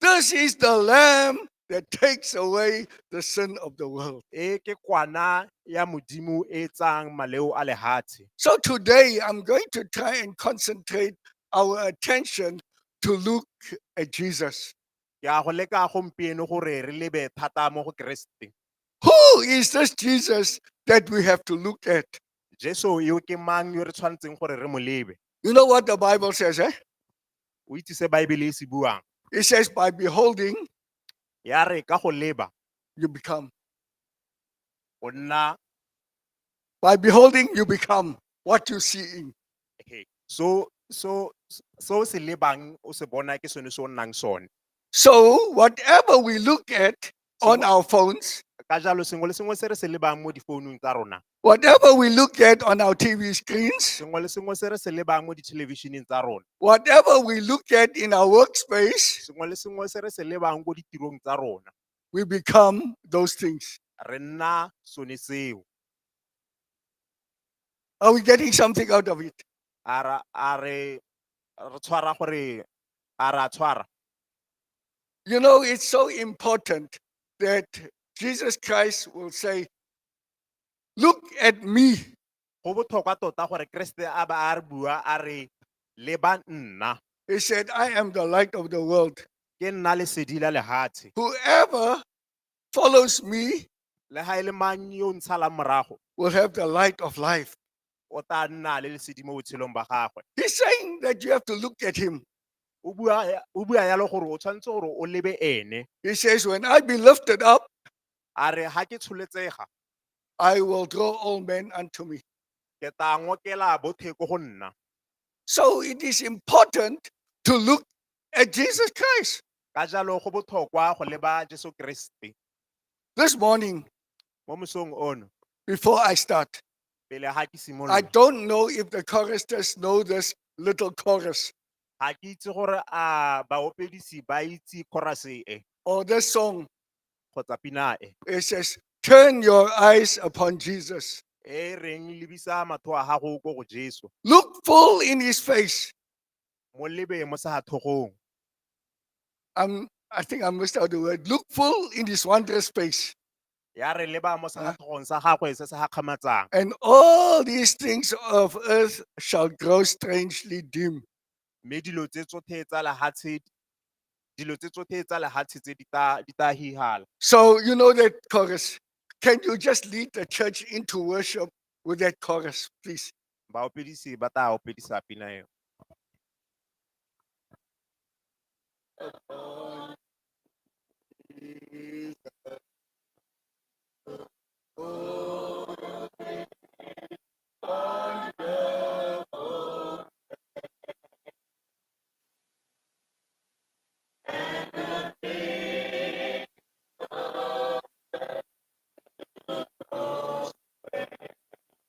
This is the lamb that takes away the sin of the world. E ke kwana ya modimo e tsang maleo a lehatshe. So today I'm going to try and concentrate our attention to look at Jesus. Ke a go leka gompieno gore re lebe thata mo go Keresete. Who is this Jesus that we have to look at? Jesu yo ke mang yo re tshwanetseng gore re mo lebe? You know what the Bible says, eh? O itse se Baebele e se buang. It says, by beholding, Ya re ka go leba you become. o nna By beholding, you become what you're seeing. he. So so so se lebang o se bona ke sone se o nnang sone. So whatever we look at, on our phones, ka jalo sengwe le sengwe se re se lebang mo difounung tsa rona whatever we look at on our TV screens, sengwe le sengwe se re se lebang mo dithelebišeneng tsa rona whatever we look at in our workspace, sengwe le sengwe se re se lebang ko ditirong tsa rona we become those things. re nna sone seo Are we getting something out of it? a ra- a re re tshwara gore a ra tshwara You know, it's so important that Jesus Christ will say, Look at me. go botlhokwa tota gore keresete a ba a re bua a re leba nna He said, I am the light of the world. ke nna lesedi la lehatshe Whoever follows me le ga e le mang yo o ntshalang morago will have the light of life. o tla nna le lesedi mo botshelong ba gagwe He's saying that you have to look at him. o bua ya- o bua yalo gore o tshwanetse gore o lebe ene He says, When I be lifted up, a re ga ke tsholetsega I will draw all men unto me. ke tla ngokela bothe ko go nna So it is important to look at Jesus Christ. ka jalo go botlhokwa go leba jesu keresete This morning, mo mosong ono before I start, pele ga ke I simolola don't know if the choristers know this little chorus ga ke itse gore a baopedisi ba itse korase e or this song. kgotsa pina e It says, Turn your eyes upon Jesus. e reng lebisa matho a gago ko go jesu Look full in his face. mo lebe mo sa thogong I'm, I think I missed out the word. Look full in his wondrous face. ya re leba mo sefatlhogong sa gagwe se se gakgamatsang And all these things of earth shall grow strangely dim. mme dilo tse tsotlhe tsa lehatshe dilo tse tsotlhe tsa lehatshe tse di ta di ta hihala So, you know that chorus. Can you just lead the church into worship with that chorus, please? Baopedisi ba tla opedisa pina eo.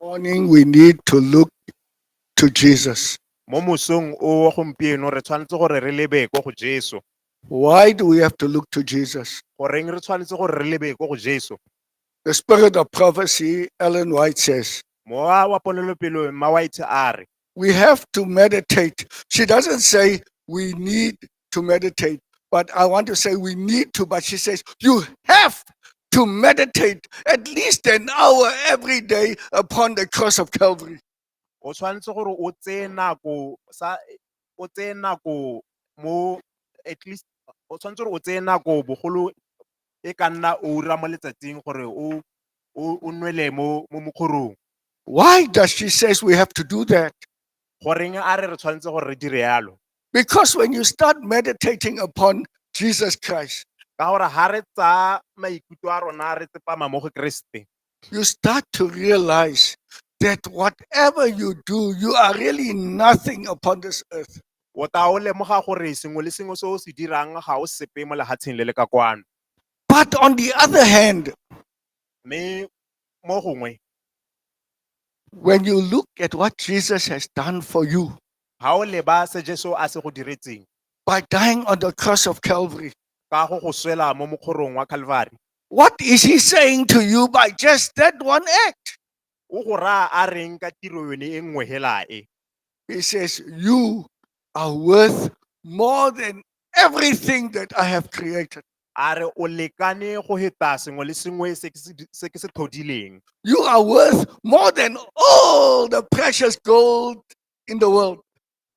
morning we need to look to Jesus. mo mosong o wa gompieno re tshwanetse gore re lebe ko go jesu Why do we have to look to Jesus? goreng re tshwanetse gore re lebe ko go jesu The spirit of prophecy, Ellen White says, mowa wa ponelopelo mma white a re we have to meditate. She doesn't say we need to meditate, but I want to say we need to, but she says you have to meditate at least an hour every day upon the cross of Calvary. o tshwanetse gore o tseye nako sa o tseye nako mo at least o tshwanetse gore o tseye nako bogolo e ka nna oura mo letsatsing gore o o nwele mo mo mokgorong. Why does she says we have to do that? Goreng a re re tshwanetse gore re dire yalo? Because when you start meditating upon Jesus Christ, ka gore ha re tsa maikutlo a rona re tsepama mo go Kriste. you start to realize that whatever you do, you are really nothing upon this earth. o tla o lemoga gore sengwe le sengwe se o se dirang ga o sepe mo lehatsheng le le ka kwano But on the other hand, mme mo gongwe when you look at what Jesus has done for you ga o leba se jesu a se go diretseng by dying on the cross of Calvary, ka go go swela mo mokgorong wa calvary What is he saying to you by just that one act? O go raya a reng ka tiro yone e nngwe hela e? He says, You are worth more than everything that I have created. A re o lekane go heta sengwe le sengwe se ke se di- se ke se tlhodileng. You are worth more than all the precious gold in the world.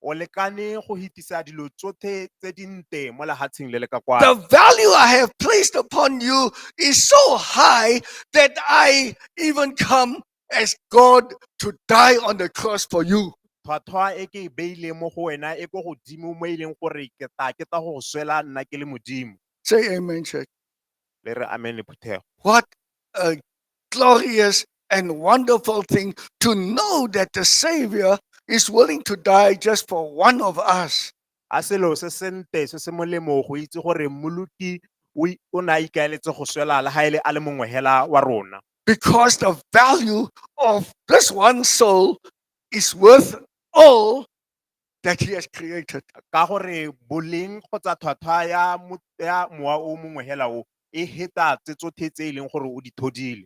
o lekane go hitisa dilo tsotlhe tse di nte mo lehatsheng le le ka kwano The value I have placed upon you is so high that I even come as God to die on the cross for you. tlhwatlhwa e ke e beileng mo go wena e ko godimo mo e leng gore ke tla ke tla go go swela nna ke le modimo Say amen, church. le re amen le phuthego What a glorious and wonderful thing to know that the Savior is willing to die just for one of us. a selo se sentle se se molemo go itse gore mmoloki o i- o ne a ikaeletse go swela le ga ele a le mongwe hela wa rona Because the value of this one soul is worth all that he has created. ka gore boleng kgotsa tlhwatlhwa ya mo- ya mowa o mongwe hela o e heta tse tsotlhe tse e leng gore o di thodile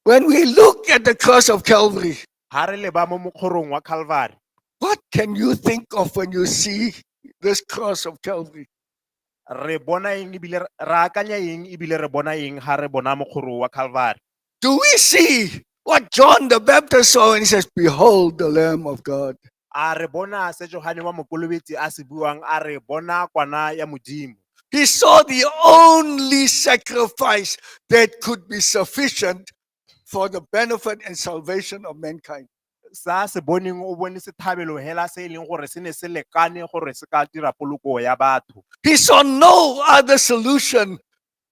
When we look at the cross of Calvary, ha re leba mo mokgorong wa calvary what can you think of when you see this cross of Calvary? Re bona eng ebile re akanya eng ebile re bona eng ha re bona mokgoro wa Calvary? Do we see what John the Baptist saw when he says, Behold the Lamb of God? A re bona se Johane wa Mokolobetsi a se buang a re bona kwana ya Modimo. He saw the only sacrifice that could be sufficient for the benefit and salvation of mankind. sa se boneng o bone sethabelo hela se e leng gore se ne se lekane gore se ka dira poloko ya batho He saw no other solution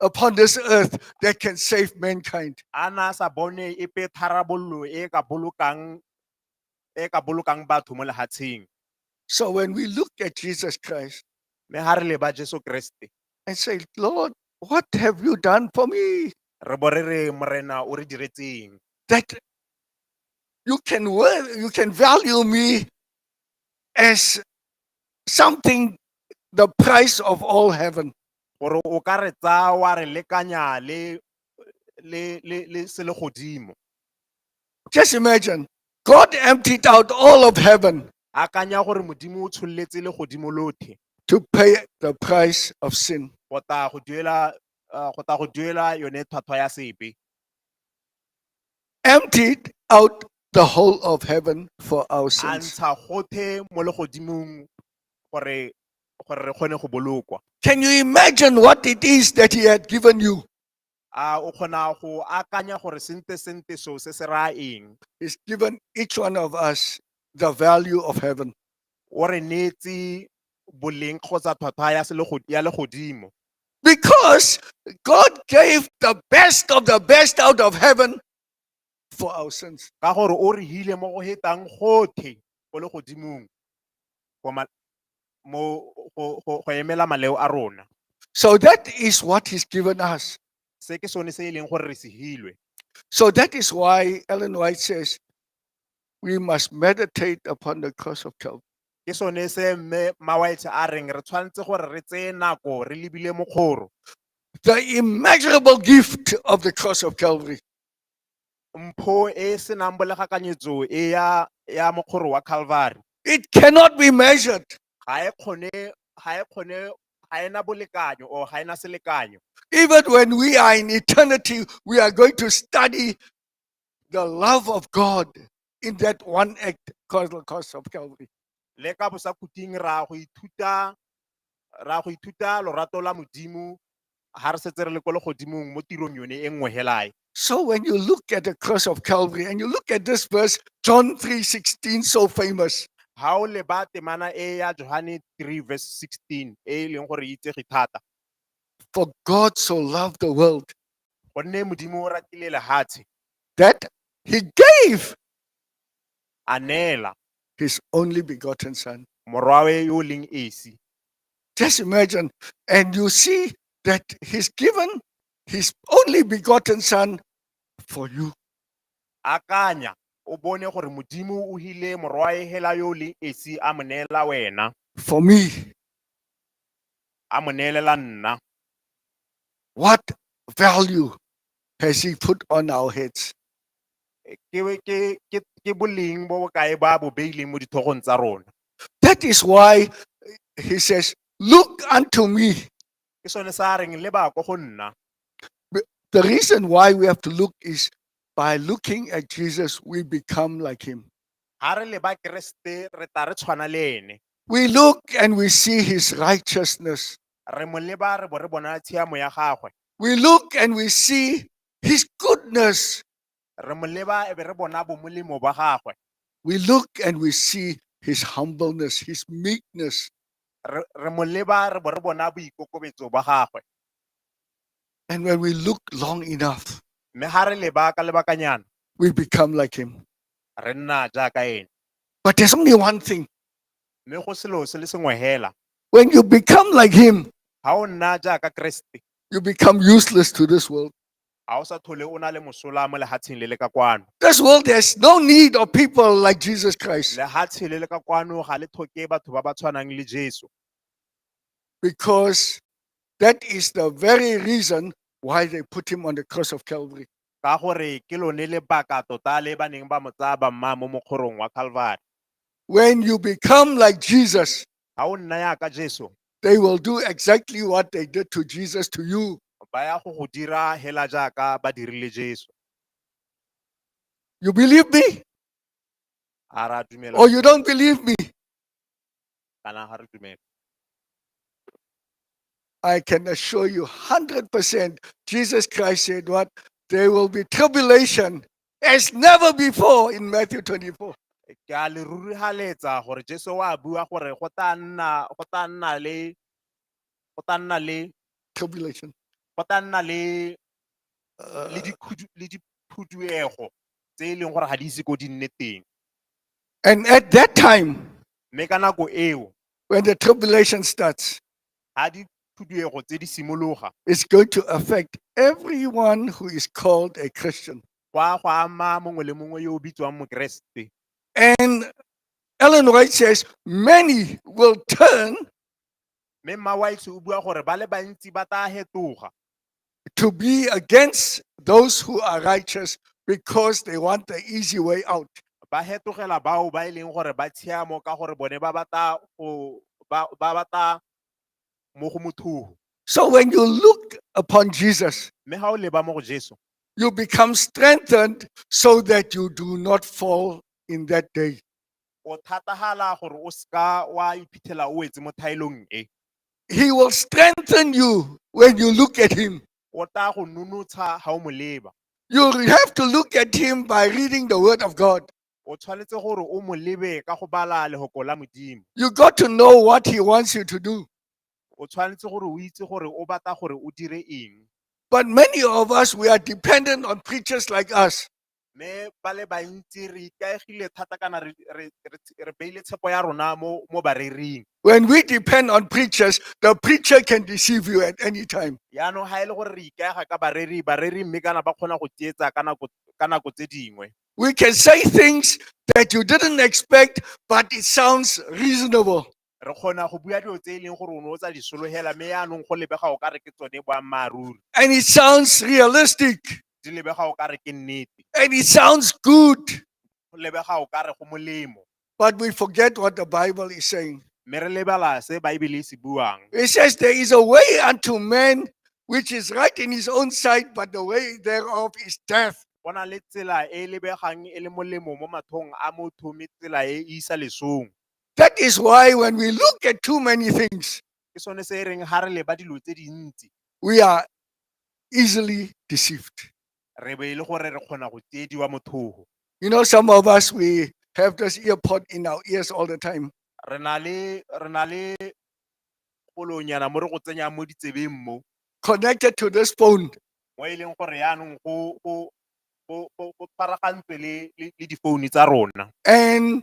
upon this earth that can save mankind. a na a sa bone epe tharabololo e ka bolokang e ka bolokang batho mo lehatsheng. So when we look at Jesus Christ Mme ha re leba Jesu Kriste, and say, Lord, what have you done for me? re bo re re Morena o re diretseng. That you can work, you can value me as something the price of all heaven. Gore o ka re tsaya wa re lekanya le le, le, le se le godimo Just imagine God emptied out all of heaven akanya gore modimo o tshololetse le godimo lothe to pay the price of sin. go tla go duela uh, go tla go duela yone tlhwatlhwa ya sebe Emptied out the whole of heaven for our a sins. ntsha gothe mo legodimong gore gore re kgone go bolokwa Can you imagine what it is that He had given you? a o kgona go akanya gore sente sente seo se se raya eng He's given each one of us the value of heaven. o re neetse boleng kgotsa tlhwatlhwa ya selego- ya legodimo Because God gave the best of the best out of heaven for our sins. ka gore o re hile mo go hetang gothe go le godimong go ma- mo go go- go emela maleo a rona So that is what He's given us. se ke sone se e leng gore re se hilwe So that is why Ellen White says we must meditate upon the cross of Calvary. Ke sone se mme Mawaetshe a reng re tshwanetse gore re tseye nako re lebile mokgoro. The immeasurable gift of the cross of Calvary. Mpho e e senang bolegakanyetso e ya ya mokgoro wa Calvary It cannot be measured. ga e kgone ga e kgone ga ena bolekanyo or ga ena selekanyo. Even when we are in eternity, we are going to study the love of God in that one act called the Cross of Calvary. le ka bosakuting ra go ithuta ra go ithuta lorato la modimo ga re setse re le ko legodimong mo tirong yone e nngwe helae So when you look at the Cross of Calvary and you look at this verse, John 3.16, so famous, ga o leba temana e ya johane 3 verse 16 e e leng gore e itsege thata for God so loved the world gonne modimo o ratile lehatshe that He gave a neela his only begotten son. morwawe yo o leng esi Just imagine. And you see that he's given his only begotten son for you. akanya o bone gore modimo o hile morwae hela yo o leng esi a mo neela wena For me, a mo neelela nna what value has he put on our heads? Ke ke ke ke boleng bo bokae ba bo beileng mo dithogong tsa rona. That is why he says, Look unto me. Ke sone sa reng le ba ko go nna. The reason why we have to look is by looking at Jesus, we become like him. Ha re le ba Kriste re tla re tshwana le ene. We look and we see his righteousness. Re mo leba re bo re bona tshiamo ya gagwe. We look and we see his goodness. Re mo leba e be re bona bomolemo ba gagwe. We look and we see his humbleness, his meekness. Re re mo leba re bo re bona boikokobetso ba gagwe. And when we look long enough, Mme ga re leba ka lebakanyana we become like him. re nna jaaka ene. But there's only one thing Mme go selo se le sengwe hela, When you become like him, ha o nna jaaka Keresete, you become useless to this world. ha o sa thole o na le mosola mo lehatsheng le le ka kwano. This world has no need of people like Jesus Christ Lehatshe le le ka kwano ga le tlhoke batho ba ba tshwanang le Jesu. because that is the very reason why they put him on the cross of Calvary. ka gore ke lone lebaka tota le ba neng ba mo tsaya ba mmaya mo mokgorong wa Calvary. When you become like Jesus, Ga o nna yaka Jesu, they will do exactly what they did to Jesus to you. ba ya go go dira hela jaaka ba dirile Jesu. You believe me A ra dumela or you don't believe me? kana ga re dumele. I can assure you 100% Jesus Christ said what? There will be tribulation as never before in Matthew 24. Ke a le rurihaletsa gore Jesu wa bua gore go tla nna go tla nna le go tla nna le tribulation. go tla nna le le Uh, dikhudu- le diphuduego tse e leng gore ga di ise ko di nne teng and at that time, mme ka nako eo when the tribulation starts, ga diphuduego tse di simologa it's going to affect everyone who is called a Christian. kwa go ama mongwe le mongwe yo o bitswang mokeresete And Ellen White says many will turn Mme Mma Wiles o bua gore ba le bantsi ba tla hetoga to be against those who are righteous because they want the easy way out. ba hetogela bao ba e leng gore ba tshiamo ka gore bone ba batla go ba ba batla mo go mothugo. So when you look upon Jesus, Mme ga o leba mo go Jesu, you become strengthened so that you do not fall in that day. o thatagala gore o seka wa iphitlhela o wetse mo thaelong e He will strengthen you when you look at him. o tla go nonotsha ga o mo leba You have to look at him by reading the word of God. o tshwanetse gore o mo lebe ka go bala legoko la modimo You got to know what he wants you to do. o tshwanetse gore o itse gore o batla gore o dire eng But many of us, we are dependent on preachers like us. Mme ba le bantsi re ikaegile thata kana re re re- re beile tshepo ya rona mo mo bareering. When we depend on preachers, the preacher can deceive you at any time. Yaanong ga e le gore re ikaega ka bareri, bareri mme kana ba kgona go tsietsa ka nako ka nako tse dingwe. We can say things that you didn't expect, but it sounds reasonable. re kgona go bua dilo tse e leng gore o ne o tsa di sologela mme yaanong go lebega o ka re ke tsone boammaaruri and it sounds realistic di lebega o ka re ke nnete and it sounds good, go lebega o ka re go molemo but we forget what the Bible is saying. mme re lebala se baebele e se buang It says there is a way unto man which is right in his own sight, but the way thereof is death. go na le tsela e e lebegang e le molemo mo mathong a motho mme tsela e e isa lesong That is why when we look at too many things, ke sone se e reng ha re leba dilo tse dintsi we are easily deceived. re be e le gore re kgona go tsiediwa mothogo You know, some of us, we have this ear pod in our ears all the time. re na le re na le polonyana mo re go tsenyang mo ditsebeng mo connected to this phone. mo e leng gore yaanong go go go go- go tshwaragantswe le le le difounu tsa rona And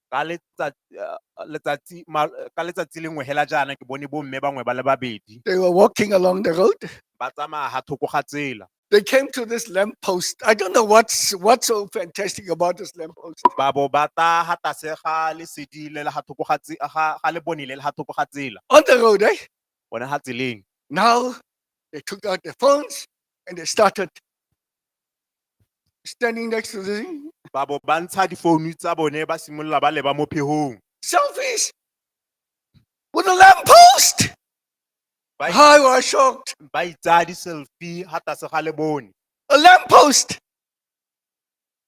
Ka letsatsi lengwe hela jaana ke bone bomme bangwe ba le babedi. They were walking along the road. Ba tsamaya ha thoko ga tsela. They came to this lamp post. I don't know what's what's so fantastic about this lamp post. Ba bo ba ta ha tlase ga lesedi le le ha thoko ga tse- ga ga lebone le le ha thoko ga tsela. On the road, eh? One ha tseleng. Now they took out their phones and they started standing next to the ba bo ba ntsha difounu tsa bone ba simolola ba leba mo phegong selfies with a lamppost. ba i- I was shocked. ba itsaya di-selfie ga tlase ga le bone A lamppost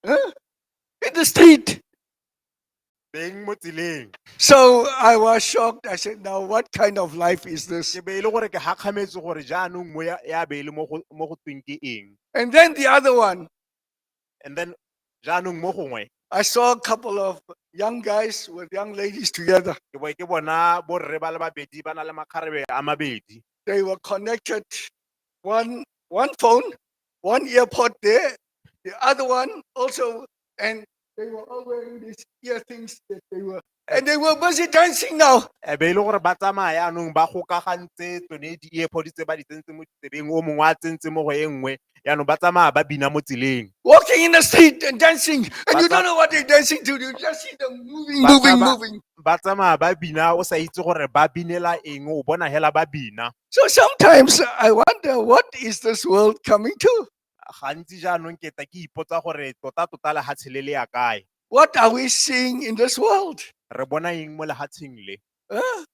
huh? in the street. beng mo tseleng So I was shocked. I said, Now, what kind of life is this? ke be e le gore ke gakgametse gore jaanong mo ya ya be e le mo go mo go tweng ke eng And then the other one, and then jaanong mo gongwe I saw a couple of young guys with young ladies together. ke bo ke bona borre ba le babedi ba na le makgarebe a mabedi They were connected, one, one phone, one earpod there, the other one also and they were all wearing these ear things that they were, and they were busy dancing now. e be e le gore ba tsamaya yaanong ba gokagantse tsone di-earpod tse ba di tsentse mo ditsebeng o mongwe a tsentse mo go e nngwe yaanong ba tsamaya ba bina mo tseleng Walking in the street and dancing, and you Bata- don't know what they're dancing to. You just see them moving, Bata- moving, ba- moving. ba tsamaya ba bina o sa itse gore ba binela eng o bona hela ba bina So sometimes I wonder what is this world coming to? Gantsi jaanong ke ta ke ipotsa gore tota-tota lehatshe le le ya kae. What are we seeing in this world? Re bona eng mo lehatsheng le? Huh?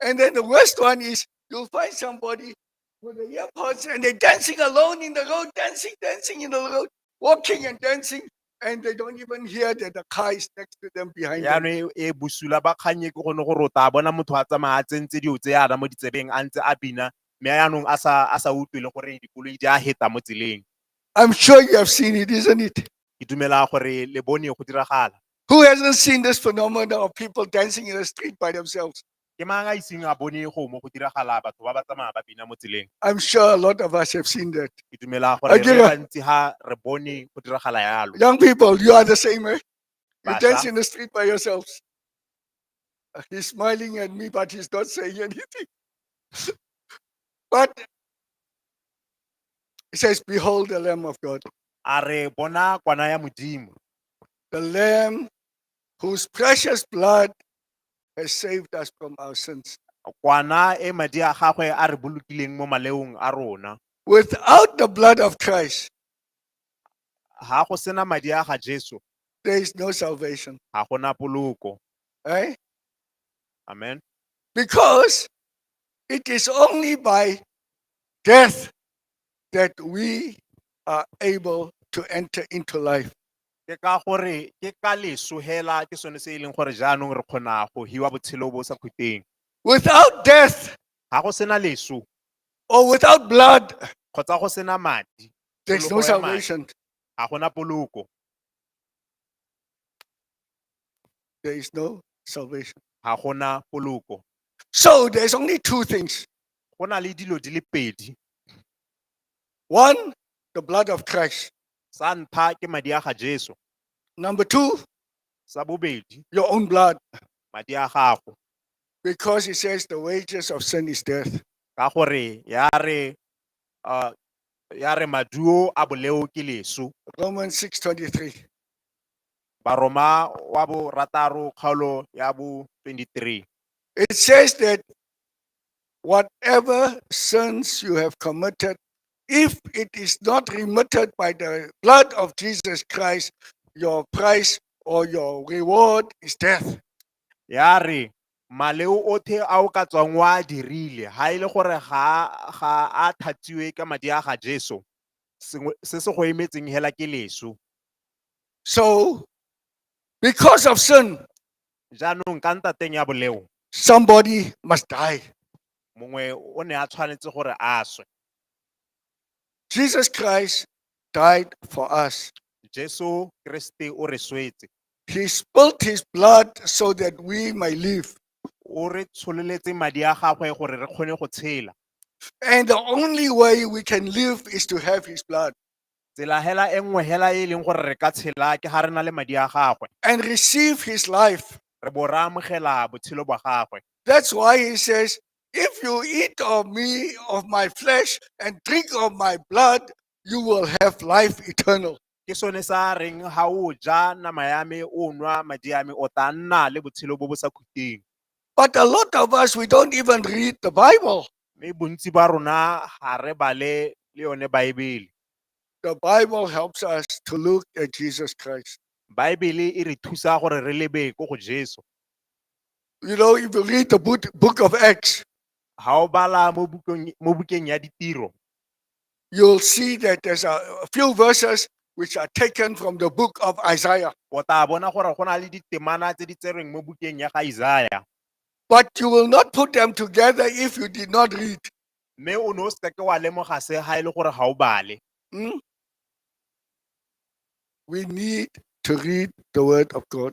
And then the worst one is you'll find somebody with the earpods and they're dancing alone in the road, dancing, dancing in the road, walking and dancing. And they don't even hear that the car is next to them behind them. yaanong e e bosula ba kgannye ke gone gore o tla bona motho a tsamaya a tsentse dilo tse yana mo ditsebeng a ntse a bina mme yaanong a sa a sa utlwe le gore dikoloi di a heta mo tseleng I'm sure you have seen it, isn't it? ke dumela gore le bone go diragala Who hasn't seen this phenomenon of people dancing in the street by themselves? Ke mang a iseng a bone go mo go diragala batho ba ba tsamaya ba bina mo tseleng? I'm sure a lot of us have seen that. Ke dumela gore A re ke le ra- bantsi ha re bone go diragala yalo. Young people, you are the same, eh? You Basha. dance in the street by yourselves. Uh, He's smiling at me, but he's not saying anything. but he says, Behold the Lamb of God, A re bona kwana ya Modimo, the Lamb whose precious blood has saved us from our sins. kwana e madi a gagwe a re bolokileng mo maleong a rona Without the blood of Christ, ga go sena madi a ga jesu there is no salvation. ga gona poloko Eh? amen Because it is only by death that we are able to enter into life. Ke ka gore ke ka leso hela ke sone se e leng gore jaanong re kgona go hiwa botshelo bo sa khuteng. Without death. Ha go sena leso. Or without blood. Kgotsa go sena madi. There is no salvation. Ga gona poloko. There is no salvation. Ga gona poloko. So there is only two things. Go na le dilo di le pedi. One, the blood of Christ. Sa ntlha ke madi a ga Jesu. Number two, Sa bobedi, your own blood. madi a gago. Because he says the wages of sin is death. Ka gore ya re, uh, ya re maduo a boleo ke lesu. Romans 6 23. Baroma wa bo rataro kgaolo ya bo 23. It says that whatever sins you have committed If it is not remitted by the blood of Jesus Christ, your price or your reward is death. ya re maleo othe a o ka tswang wa a dirile ha e le gore ga ga a thatsiwe ka madi a ga Jesu sengwe se se go emetseng hela ke leso So, because of sin, jaanong ka ntateng ya boleo somebody must die. mongwe o ne a tshwanetse gore a swe Jesus Christ died for us. Jesu Kriste o re swetse. He spilt his blood so that we may live. O re tshololetse madi a gagwe gore re kgone go tshela. And the only way we can live is to have his blood Tsela hela e nngwe hela e e leng gore re ka tshela ke ga re na le madi a gagwe. and receive his life. Re bo re amogela botshelo bwa gagwe. That's why he says, If you eat of me, of my flesh, and drink of my blood, you will have life eternal. ke sone sa reng ga o ja nama ya me o nwa madi a me o tla nna le botshelo bo bo sa khuteng But a lot of us, we don't even read the Bible. mme bontsi ba rona ga re bale le yone baebele The Bible helps us to look at Jesus Christ. baebele e re thusa gore re lebe ko go jesu You know, if you read the book, book of Acts, ha o bala mo bukong mo bukeng ya ditiro you'll see that there's a a few verses which are taken from the book of Isaiah. o tla bona gore go na le ditemana tse di tserweng mo bukeng ya ga Isaya But you will not put them together if you did not read. mme o ne o seke ke wa lemoga se ga e le gore ga o bale Hmm? We need to read the word of God.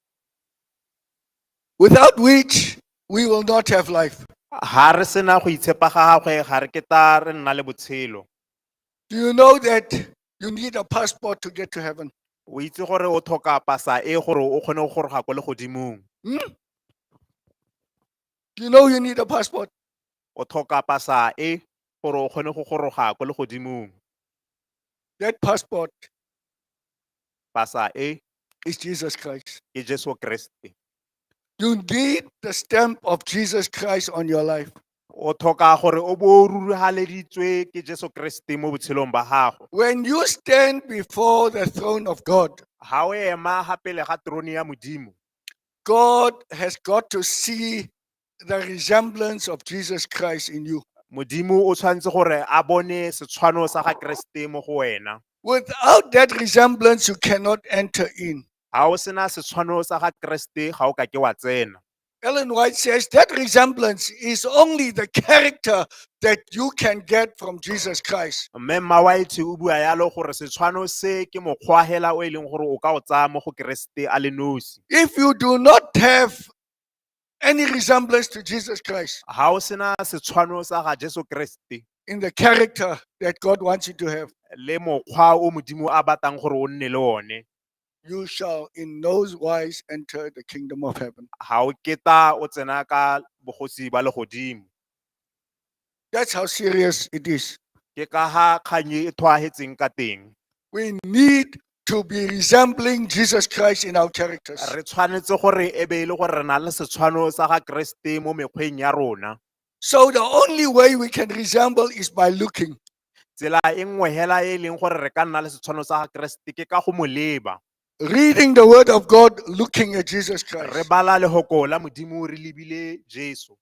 without which we will not have life. Ha re sena go itshepa ga gagwe ga re ke ta re nna le botshelo. Do you know that you need a passport to get to heaven? O itse gore o tlhoka pasa e gore o kgone go goroga kwa legodimong. Hmm? Do you know you need a passport? O tlhoka pasa e gore o kgone go goroga kwa legodimong. That passport Pasa A is Jesus Christ. ke Jesu Kriste. You need the stamp of Jesus Christ on your life. O tlhoka gore o bo o rurihaleditswe ke Jesu Kriste mo botshelong ba gago. When you stand before the throne of God, Ha o ema ga pele ga trone ya Modimo, God has got to see the resemblance of Jesus Christ in you. modimo o tshwanetse gore a bone setshwano sa ga keresete mo go wena Without that resemblance, you cannot enter in. ga o sena setshwano sa ga keresete ga o ka ke wa tsena Ellen White says that resemblance is only the character that you can get from Jesus Christ. mme mma white o bua yalo gore setshwano se ke mokgwa hela o e leng gore o ka o tsaya mo go keresete a le nosi If you do not have any resemblance to Jesus Christ ha o sena setshwano sa ga Jesu Kriste in the character that God wants you to have, le mokgwa o modimo a batang gore o nne le one you shall in no wise enter the kingdom of heaven. ha o keta o tsena ka bogosi ba legodimo That's how serious it is. ke ka ha kgang e e tshwaetseng ka teng We need to be resembling Jesus Christ in our characters. re tshwanetse gore e be e le gore re na le setshwano sa ga keresete mo mekgweng ya rona So the only way we can resemble is by looking. tsela e nngwe hela e e leng gore re ka nna le setshwano sa ga keresete ke ka go mo leba Reading the word of God, looking at Jesus re Christ. bala lehoko la modimo re lebile jesu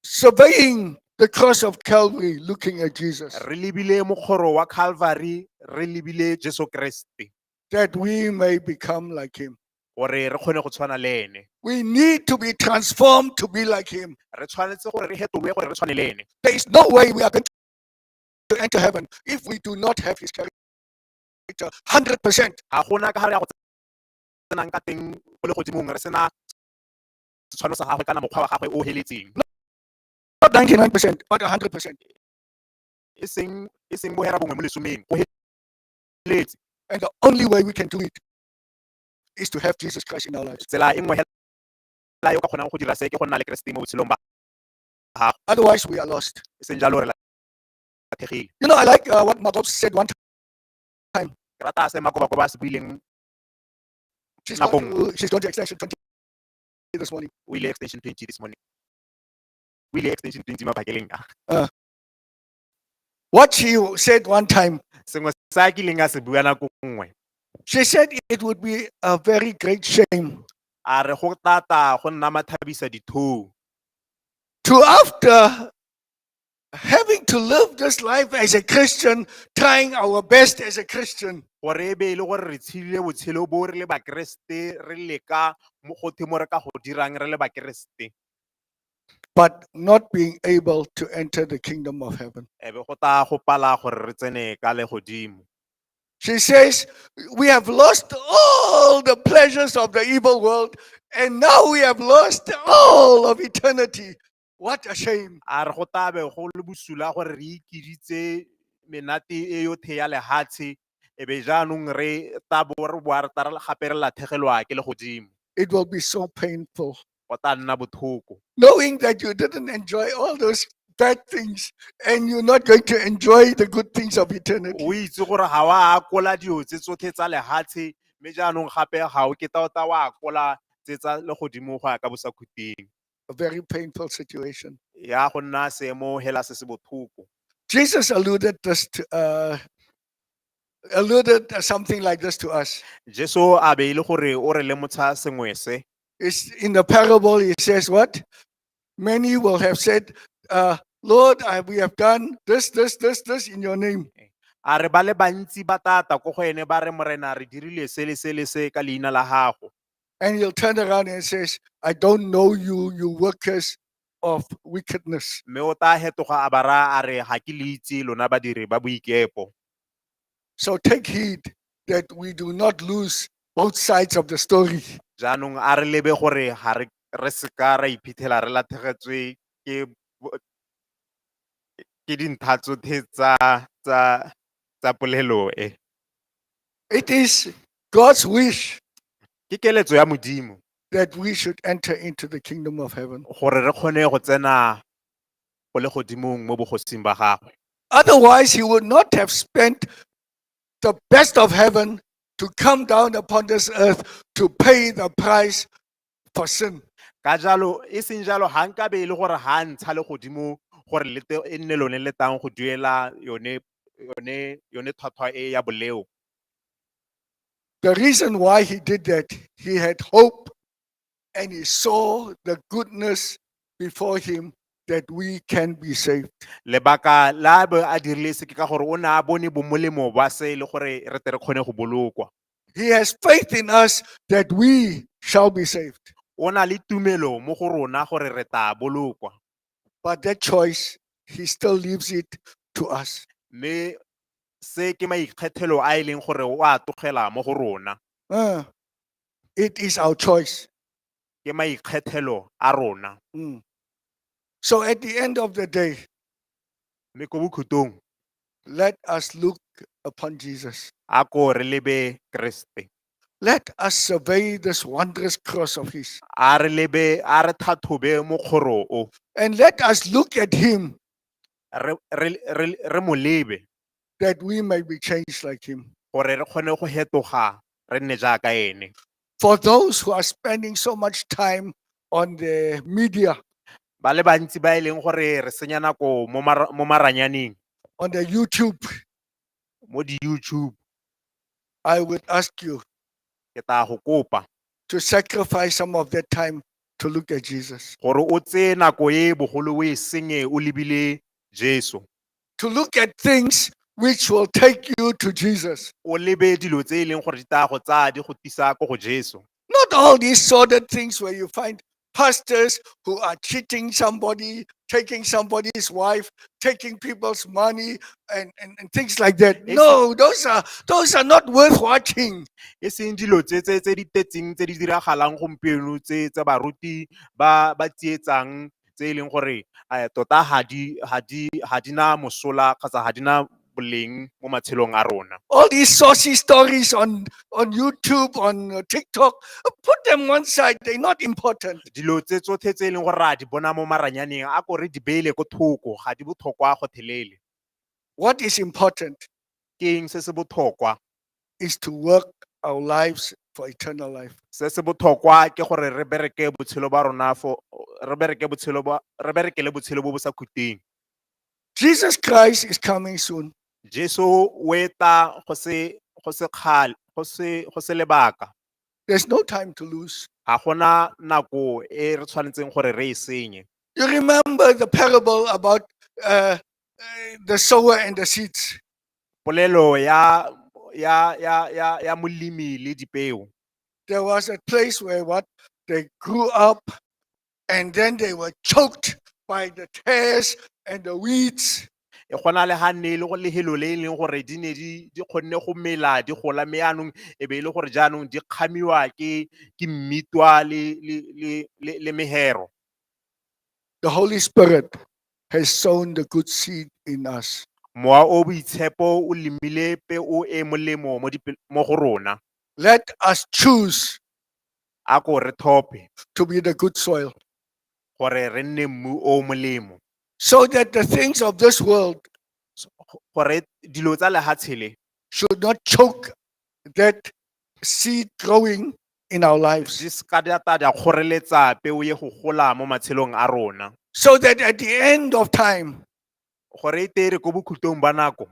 surveying the cross of Calvary, looking at Jesus, re lebile mokgoro wa calvary re lebile jesu kreste that we may become like him. gore re kgone go tshwana le ene We need to be transformed to be like him. re tshwanetse gore re fetolwe gore re tshwane le ene There is no way we are going to enter heaven if we do not have his character 100%. ga gona ka ga re ya go tsenang ka teng go le godimong re sena setshwanelo sa gagwe kana mokgwa wa gagwe o heletseng not 99 percent but 100 percent e seng e seng bohera bongwe mo lesomeng o heletse and the only way we can do it is to have Jesus Christ in our lives tsela e nngwe hela yo ka kgonang go dira se ke go nna le Keresete mo botshelong ba gago otherwise we are lost e seng jalo re latlhegile you know i like uh, what Makob said one time ke rata se Makoba Koba se buileng nakong she's going to extension 20 this morning. O ile extension 20 this morning. O ile extension 20 mabakeleng a. What she said one time, Sengwe sa a kileng a se bua nako nngwe. she said it would be a very great shame A re go tata go nna mathabisa dithoo. to after having to live this life as a Christian, trying our best as a Christian. gore e be e le gore re tshile botshelo bo re le bakeresete re leka mo go themo re ka go dirang re le bakeresete But not being able to enter the kingdom of heaven. e be go tla go pala gore re tsene ka le godimo She says, We have lost all the pleasures of the evil world, and now we have lost all of eternity. What a shame. A re go tabe go le bosula gore re ikiritse menate e yothe ya lehatshe e be jaanong re tabo re boa re tara gape re lathegelwa ke le godimo. It will be so painful. Go tla nna bothoko. Knowing that you didn't enjoy all those bad things and you're not going to enjoy the good things of eternity. O itse gore ga wa akola dilo tse tsotlhe tsa lehatshe mme jaanong gape ga o keta o ta wa akola tse tsa le godimo go ya ka bosakhuting. a very painful situation. ya go nna seemo hela se se botlhoko Jesus alluded this to, uh, alluded something like this to us. jesu a be e le gore o re lemotsha sengwe se It's in the parable, he says, What? Many will have said, uh, Lord, I, we have done this, this, this, this in your name. a re ba le bantsi ba tata ko go ene ba re morena re dirile se le se le se ka leina la gago And he'll turn around and says, I don't know you, you workers of wickedness. mme o tla fetoga a ba raya a re ga ke le itse lona badiri ba boikepo So take heed that we do not lose both sides of the story. jaanong a re lebe gore ga re re seka ra iphitlhela re lathegetswe ke bo- ke dintlha tsotlhe tsa tsa tsa polelo e It is God's wish ke keletso ya modimo that we should enter into the kingdom of heaven. gore re kgone go tsena go le godimong mo bogosing ba gagwe Otherwise, he would not have spent the best of heaven to come down upon this earth to pay the price Portion. Ka jalo, e seng jalo ga nkabe e le gore ga a ntsha le godimo gore lete e nne lone le tlang go duela yone yone yone tlhwatlhwa e ya boleo. The reason why he did that, he had hope and he saw the goodness before him that we can be saved. Lebaka la bo a dirile se ke ka gore o ne a bone bomolemo ba se e le gore re tle re kgone go bolokwa. He has faith in us that we shall be saved. o na le tumelo mo go rona gore re tla bolokwa But that choice, he still leaves it to us. mme se ke maikgethelo a e leng gore o a tlogela mo go rona Uh, it is our choice. ke maikgethelo a rona. Mm. So at the end of the day, mme ko bokhutlong let us look upon Jesus. a ko re lebe keresete Let us survey this wondrous cross of his a re lebe a re thathobe mokgoro o and let us look at him re- re- re- re mo lebe that we might be changed like him. gore re kgone go hetoga re nne jaaka ene For those who are spending so much time on the media, ba le bantsi ba e leng gore re senya nako mo mara- mo maranyaneng on the YouTube, mo di-youtube I would ask you ke tla go kopa to sacrifice some of that time to look at Jesus. gore o tseye nako e bogolo o e senye o lebile jesu to look at things which will take you to Jesus. o lebe dilo tse e leng gore di taya go tsaya di go tisa ko go jesu Not all these sordid things where you find pastors who are cheating somebody, taking somebody's wife, taking people's money, and, and, and things like that. Yes, No, those are those are not worth watching. e seng dilo tse tse tse di tetseng tse di diragalang gompieno tse tsa baruti ba ba tsietsang tse e leng gore um tota ga di na mosola kgotsa ga di na boleng mo matshelong a rona all these saucy stories on on youtube on uh, tiktok uh, put them one side they're not important dilo tse tsotlhe tse e leng gore a di bona mo maranyaneng a ko re di beele ko thoko ga di botlhokwa go thelele what is important ke eng se se botlhokwa is to work our lives for eternal life. Se se botlhokwa ke gore re bereke botshelo ba rona fo re bereke botshelo ba re berekele botshelo bo bo sa khuteng. Jesus Christ is coming soon. Jesu o etla go se go se kgale go se go se lebaka. There's no time to lose. Ga gona nako e re tshwanetseng gore re e senye. You remember the parable about uh, uh, the sower and the seeds. Polelo ya ya ya ya ya molemi le dipeo. There was a place where what they grew up and then they were choked by the tares and the weeds. E gona le ha ne le go lehelo le e leng gore di ne di di kgonne go mela di gola me anong e be e le gore jaanong di kgamiwa ke ke mmitwa le le le le, le mehero. The Holy Spirit has sown the good seed in us. Mowa o boitshepo o lemile peo e e molemo mo dipe- mo go rona. Let us choose A ko re thope to be the good soil gore re nne mmu o o molemo. so that the things of this world Gore dilo tsa lehatshe le should not choke that seed growing in our lives di se ka di a ta di a kgoreletsa peo ye go gola mo matshelong a rona so that at the end of time, gore e tere ko bokhutlong ba nako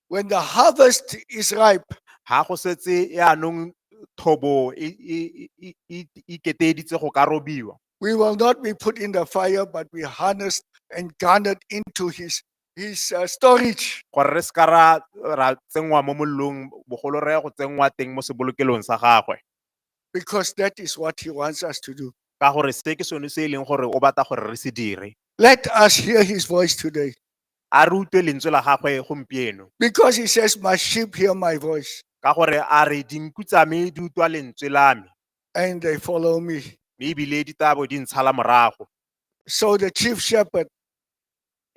when the harvest is ripe, ga go setse yaanong thobo e- e- e- e- e iketeeditse go ka robiwa we will not be put in the fire, but be harnessed and garnered into his He's uh, storage. gore re seka ra ra tsenngwa mo mollong bogolo re ya go tsenngwa teng mo sebolokelong sa gagwe Because that is what he wants us to do. ka gore se ke sone se e leng gore o batla gore re se dire Let us hear his voice today. a re utlwe lentswe la gagwe gompieno Because he says, My sheep hear my voice ka gore a re dinku tsa me di utlwa lentswe la me and they follow me. mme ebile di tabo di ntshala morago So the chief shepherd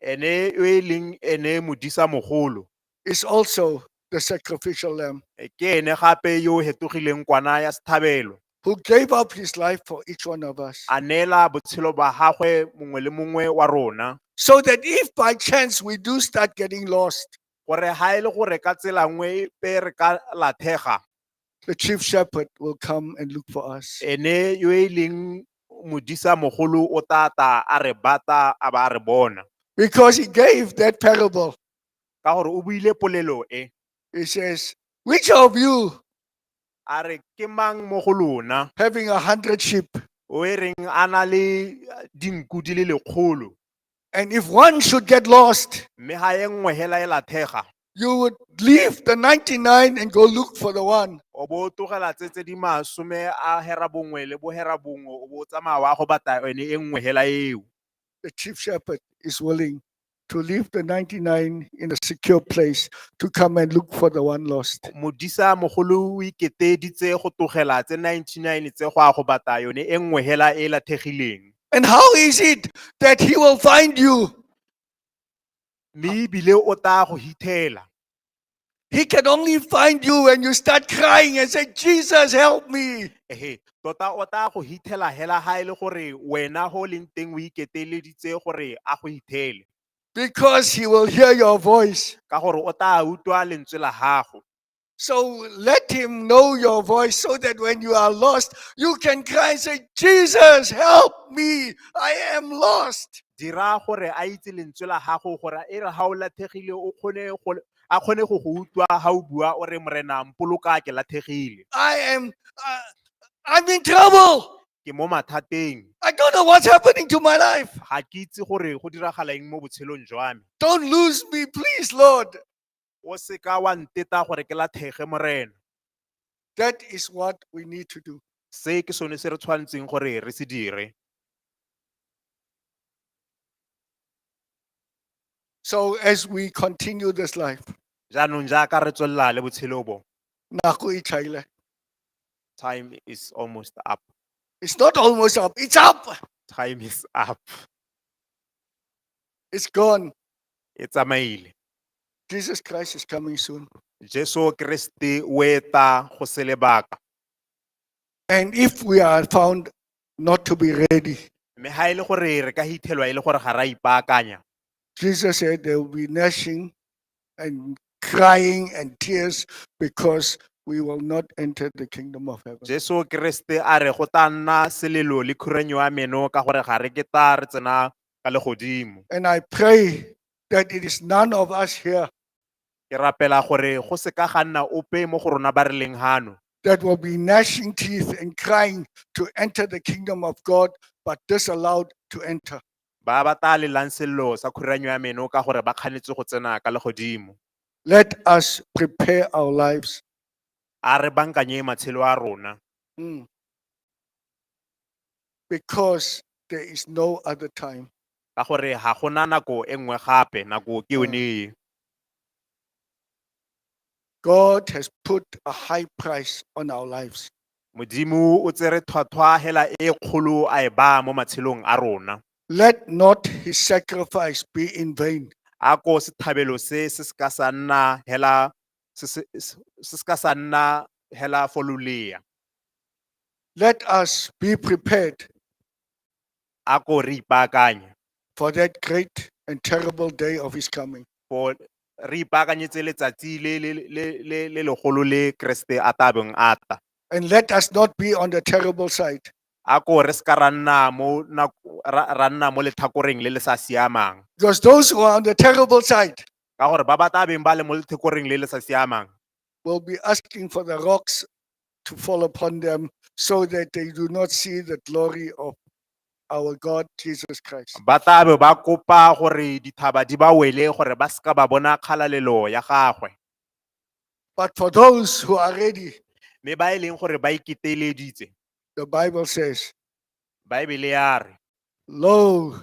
ene yo e leng ene modisa mogolo is also the sacrificial lamb eh, ke ene gape yo o hetogileng kwana ya sethabelo who gave up his life for each one of us. a neela botshelo ba gagwe mongwe le mongwe wa rona So that if by chance we do start getting lost, gore ga e le gore ka tsela nngwe pe re ka lathega The chief shepherd will come and look for us. ene yo e leng modisa mogolo o tata a re bata a ba a re bona Because he gave that parable. ka gore o buile polelo e He says, Which of you, a re ke mang mo go lona having a hundred sheep, o e reng a na le eh, dinku di le lekgolo and if one should get lost, mme ga e nngwe hela e lathega you would leave the 99 and go look for the one. o bo o tlogela tse tse di masome a hera bongwe le bo hera bongwe o bo o tsamaya wa go batla yone e nngwe hela eo The chief shepherd is willing to leave the 99 in a secure place to come and look for the one lost. modisa mogolo o iketeditse go tlogela tse 99 tse go a go batla yone e nngwe hela e lathegileng And how is it that he will find you? Mme ebile o tla go hithela. He can only find you when you start crying and say, Jesus, help me. Ehe, tota o tla go hithela hela ha e le gore wena ho leng teng o iketeleditse gore a go hithele. Because he will hear your voice. Ka gore o tla utlwa lentswe la gago. So let him know your voice so that when you are lost, you can cry and say, Jesus, help me. I am lost. dira gore a itse lentswe la gago gore e re ga o lathegile o kgone go a kgone go go utlwa ga o bua o re morena mpoloka ke lathegile I am, uh, I'm in trouble. ke mo mathateng I don't know what's happening to my life. ga ke itse gore go diragala eng mo botshelong jwa me Don't lose me, please, Lord. O se ka wa nteta gore ke lathege, Morena. That is what we need to do. Se ke sone se re tshwanetseng gore re se dire. So as we continue this life, Jaanong jaaka re tswelela le botshelo bo, nako e tlhaile. time is almost up. It's not almost up, it's up. Time is up. It's gone. e tsamaile Jesus Christ is coming soon. jesu keresete o eta go se lebaka And if we are found not to be ready, mme ga e le gore re ka hithelwa e le gore ga ra ipaakanya Jesus said there will be gnashing and crying and tears because we will not enter the kingdom of heaven. jesu keresete a re go tla nna selelo le khuranyo ya meno ka gore ga re ke ta re tsena ka legodimo. And I pray that it is none of us here Ke rapela gore go se ka ga nna ope mo go rona ba re leng hano that will be gnashing teeth and crying to enter the kingdom of God, but disallowed to enter. ba ba tla lelang sello sa khuranyo ya meno ka gore ba kganetse go tsena ka legodimo. Let us prepare our lives. A re bankanye matshelo a rona. Mm. because there is no other time. ka gore ga gona nako e nngwe gape nako ke yone e God has put a high price on our lives. modimo o tsere tlhwatlhwa hela e kgolo a e baya mo matshelong a rona Let not his sacrifice be in vain. a ko sethabelo se se se ka sa nna hela se ka sa nna hela for lolea. Let us be prepared. A ko re ipaakanye. For that great and terrible day of his coming. For re ipaakanyetse letsatsi le le le le legolo le Kriste a tabeng a tla. And let us not be on the terrible side. A ko re se ka ra nna mo ra nna mo lethakoreng le le sa siamang. Because those who are on the terrible side. ka gore ba ba tla beng ba le mo letlhekoreng le le sa siamang will be asking for the rocks to fall upon them so that they do not see the glory of our God Jesus Christ. ba tla be ba kopa gore dithaba di ba wele gore ba seka ba bona kgalalelo ya gagwe But for those who are ready, mme ba e leng gore ba iketeleditse the Bible says, baebele ya re Lo,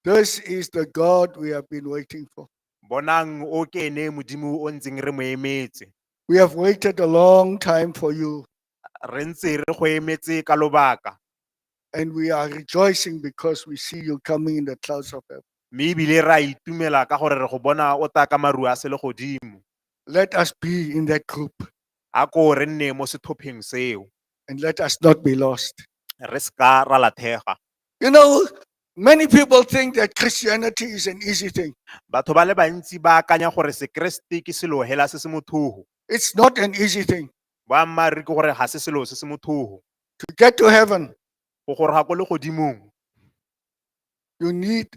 This is the God we have been waiting for. bonang o ke ene modimo o ntseng re mo emetse We have waited a long time for you, re ntse re go emetse ka lobaka and we are rejoicing because we see you coming in the clouds of heaven. mme ebile re a itumela ka gore re go bona o tla ka maru a sele godimo Let us be in that group a ko re nne mo sethopheng seo and let us not be lost. re seka ra lathega You know, Many people think that Christianity is an easy thing. Batho ba le bantsi ba akanya gore Sekeresete ke selo hela se se mothogo. It's not an easy thing. Boammaaruri ke gore ga se selo se se mothogo. To get to heaven, Go goroga ko legodimong, you need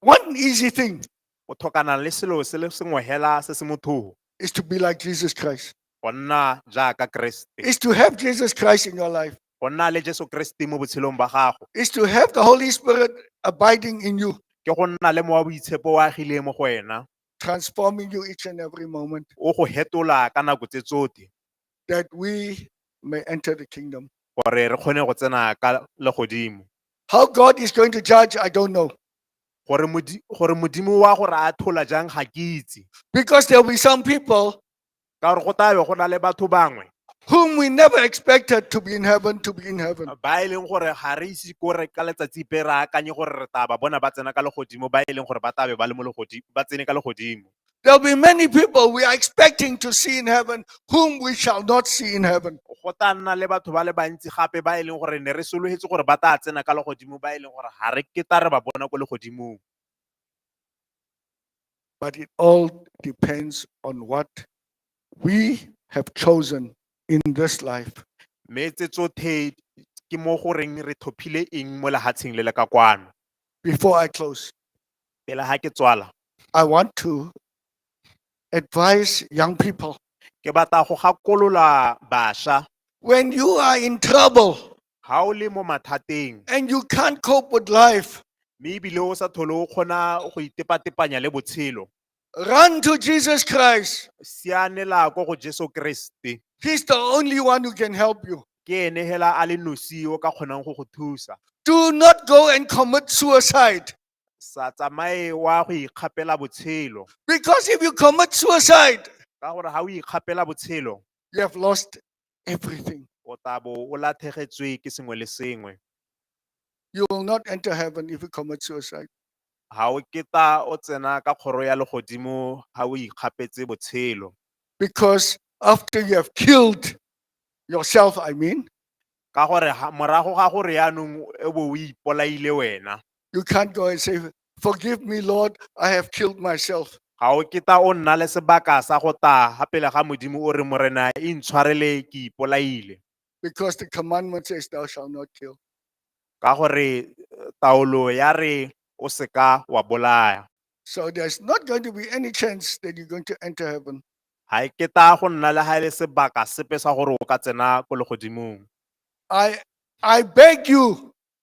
one easy thing o tlhokana le selo se le sengwe hela se se mothogo. is to be like Jesus Christ. Go nna jaaka Keresete. Is to have Jesus Christ in your life. go nna le Jesu Kriste mo botshelong ba gago is to have the Holy Spirit abiding in you, ke go nna le mowa boitshepo o agileng mo go wena transforming you each and every moment, o go hetola ka nako tse tsote that we may enter the kingdom. gore re kgone go tsena ka legodimo How God is going to judge, I don't know. gore Modi- gore modimo wa gore a thola jang ga ke itse Because there will be some people ka gore go tabe go na le batho bangwe whom we never expected to be in heaven to be in heaven. ba e leng gore ga re ise ko re ka letsatsi pe re akanye gore re taba bona ba tsena ka legodimo ba e leng gore ba tabe ba le mo legodimo ba tsene ka legodimo There'll be many people we are expecting to see in heaven whom we shall not see in heaven. go ta nna le batho ba le bantsi gape ba e leng gore ne re sologetse gore ba tla tsena ka legodimo ba e leng gore ga re ke ta re ba bona ko legodimong but it all depends on what we have chosen in this life. Mme tse tsotlhe ke mo go reng re tlhophile eng mo lehatsheng le le ka kwano. Before I close, Pele ha ke tswala, I want to advise young people ke batla go gakolola basha when you are in trouble, ga o le mo mathateng and you can't cope with life, mme ebile o sa thole o kgona go itepatepanya le botshelo run to Jesus Christ. sianela ko go jesu keresete He's the only one who can help you. ke ene hela a le nosi o ka kgonang go go thusa Do not go and commit suicide. sa tsamaye wa go ikgapela botshelo Because if you commit suicide, ka gore ga o ikgapela botshelo you have lost everything. o tla bo o lathegetswe ke sengwe le sengwe You will not enter heaven if you commit suicide. ga o keta o tsena ka kgoro ya legodimo ga o ikgapetse botshelo Because after you have killed yourself, I mean, ka gore ha- morago ga gore yaanong e bo o ipolaile wena you can't go and say, Forgive me, Lord, I have killed myself. ga o kita o nna le sebaka sa go taga pele ga modimo o re morena e ntshwarele ke ipolaile Because the commandment says, Thou shalt not kill. ka gore eh, taolo ya re o seka wa bolaya So there's not going to be any chance that you're going to enter heaven. ga e keta go nna le ga e le sebaka sepe sa gore o ka tsena ko legodimong I, I beg you,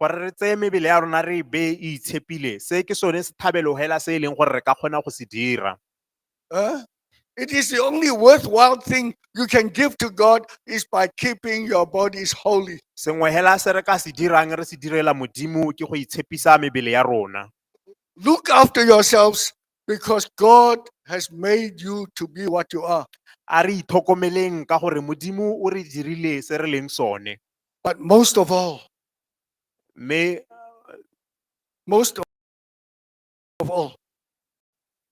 gore re tseye mebele ya rona re e beye e itshepile se ke sone sethabelo hela se e leng gore re ka kgona go se dira Huh? It is the only worthwhile thing you can give to God is by keeping your bodies holy. sengwe hela se re ka se dirang re se direla modimo ke go itshepisa mebele ya rona Look after yourselves because God has made you to be what you are. a re itlhokomeleng ka gore modimo o re dirile se re leng sone But most of all, may uh, most of all,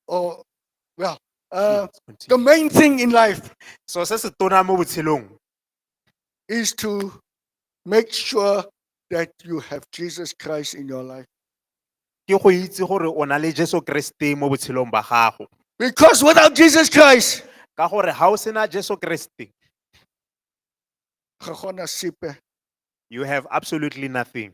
oh well, uh, the main thing in life so se se tona mo botshelong is to make sure that you have Jesus Christ in your life. ke go itse gore o na le jesu kreste mo botshelong ba gago Because without Jesus Christ, ka gore ga o sena jesu kreste ga gona sepe You have absolutely nothing.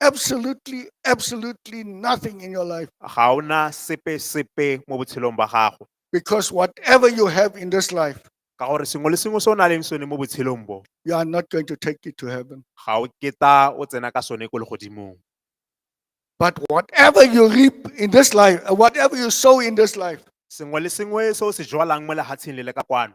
absolutely absolutely nothing in your life Ga o na sepe sepe mo botshelong ba gago. because whatever you have in this life Ka gore sengwe le sengwe se o na leng sone mo botshelong bo, you are not going to take it to heaven ga o keta o tsena ka sone ko legodimong. but whatever you reap in this life uh, whatever you sow in this life Sengwe le sengwe se o se jwalang mo lehatsheng le le ka kwano,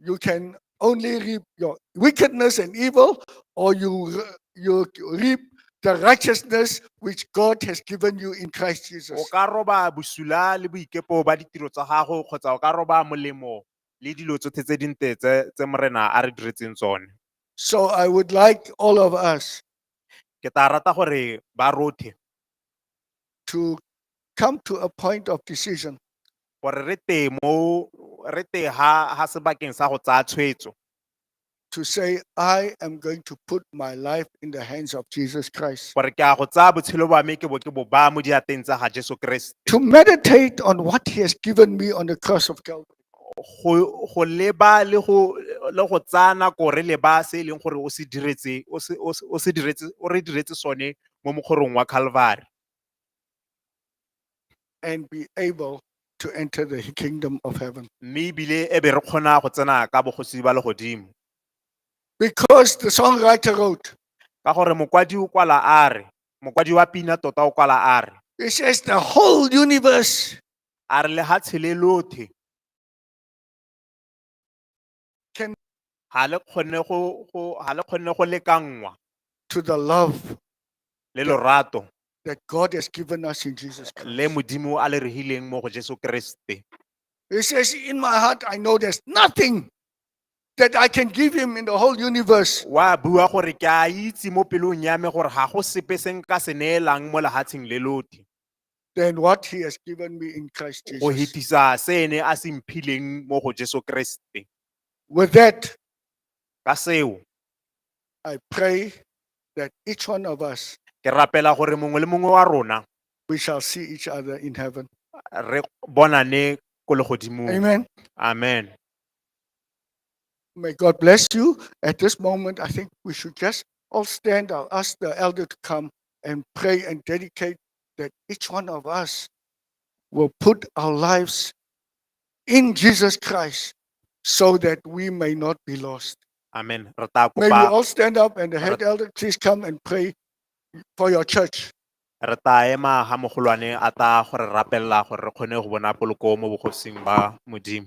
you can only reap your wickedness and evil, or you, you reap the righteousness which God has given you in Christ o Jesus. ka roba bosula le boikepo ba ditiro tsa gago kgotsa o ka roba molemo le dilo tsotlhe tse dinte tse tse morena a re diretseng tsone So I would like all of us ke tla rata gore ba rothe to come to a point of decision. gore re tee mo re tee ha ha sebakeng sa go tsaya tshwetso to say, I am going to put my life in the hands of Jesus Christ. gore ke a go tsaya botshelo ba me ke bo ke bo baya mo diateng tsa ga jesu keresete To meditate on what he has given me on the cross of Calvary. go go leba le go le go tsaya nako re leba se e leng gore o se diretse o se o se- o se diretse o re diretse sone mo mokgorong wa calvary and be able to enter the kingdom of heaven. mme ebile e be re kgona go tsena ka bogosi ba legodimo Because the songwriter wrote, ka gore mokwadi o kwala a re mokwadi wa pina tota o kwala a re he says, the whole universe a re lehatshe le lothe can ha le kgonne go go ha le kgonne go lekanngwa to the love le lorato that God has given us in Jesus Christ. le modimo a le regileng mo go jesu keresete He says, In my heart, I know there's nothing that I can give him in the whole universe. wa bua gore ke a itse mo pelong ya me gore ga go sepe se nka se neelang mo lehatsheng le lote than what he has given me in Christ go Jesus. hetisa se ene a se mphileng mo go jesu keresete With that, ka seo I pray that each one of us, ke rapela gore mongwe le mongwe wa rona we shall see each other in heaven. re bonane ko legodimong Amen. amen May God bless you. At this moment, I think we should just all stand. I'll ask the elder to come. and pray and dedicate that each one of us will put our lives in Jesus Christ so that we may not be lost. Amen. Re tla May we kopa all stand up and the head elder, please come and pray for your church. re tla ema ha mogolwane a tla go re rapelela gore re kgone go bona poloko mo bogosing ba Modimo.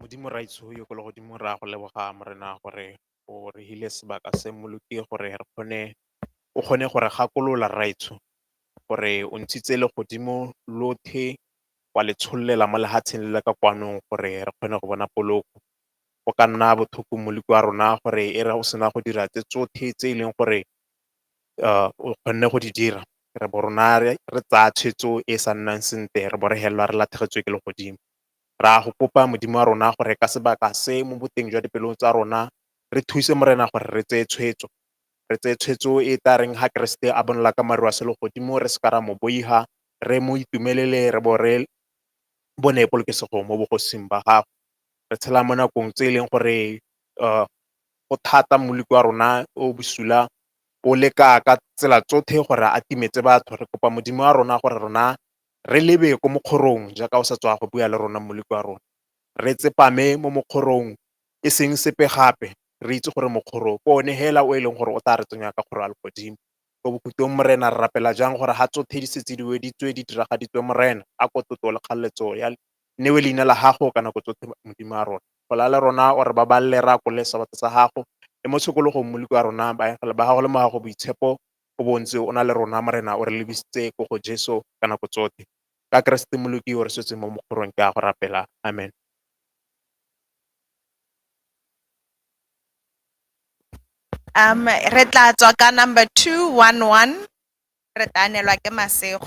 Modimo ra itsho yo ko le godimo ra go leboga morena gore o re hile sebaka se moloki gore re kgone o kgone gore gakolola ra itsho gore o ntshitse le godimo lothe wa le tshollela mo lehatsheng le le ka kwanong gore re kgone go bona poloko go ka nna bothoko moloki wa rona gore e re o sena go dira tse tsothe tse e leng gore o kgonne go di dira re bo rona re tsaya tshwetso e sa nnang sentle re bo re helelwa re lathegetswe ke le godimo Ra go kopa Modimo wa rona gore ka sebaka se mo boteng jwa dipelong tsa rona, re thuse Morena gore re tseye tshwetso. Re tseye tshwetso e e tla reng ha Keresete a bonala ka maru a selegodimo re seka ra mo boiha, re mo itumelele re bo re bone polokesego mo bogosing ba gagwe. Re tshela mo nakong tse e leng gore go thata moloko wa rona o bosula o leka ka tsela tsotlhe gore a timetse batho. Re kopa Modimo wa rona gore rona Re lebe ko mokgorong jaaka o sa tswa go bua le rona Moleko wa rona. Re tsepame mo mokgorong e seng sepe gape, re itse gore mokgoro ke one hela o e leng gore o tla re tsenya ka kgoro ya legodimo. Ko bokhutlong Morena re rapela jang gore ha tsothe di setse di weditswe, di diragaditswe Morena, a ko tlotlo le kgaleletso ya newe leina la gago ka nako tsothe Modimo wa rona. Gola le rona o re babalele re akole sabatha sa gago, le mo tshokologong Moleko wa rona baengele ba gago le mo gago boitshepo O bo o ntse o na le rona, Morena, o re lebisitse ko go Jesu ka nako tsotlhe. Ka Keresete Moloki yo o re sotseng mo mokgorong, ke a go rapela. Amen. Um, re tla tswa ka number 211 re tla anelwa ke masego.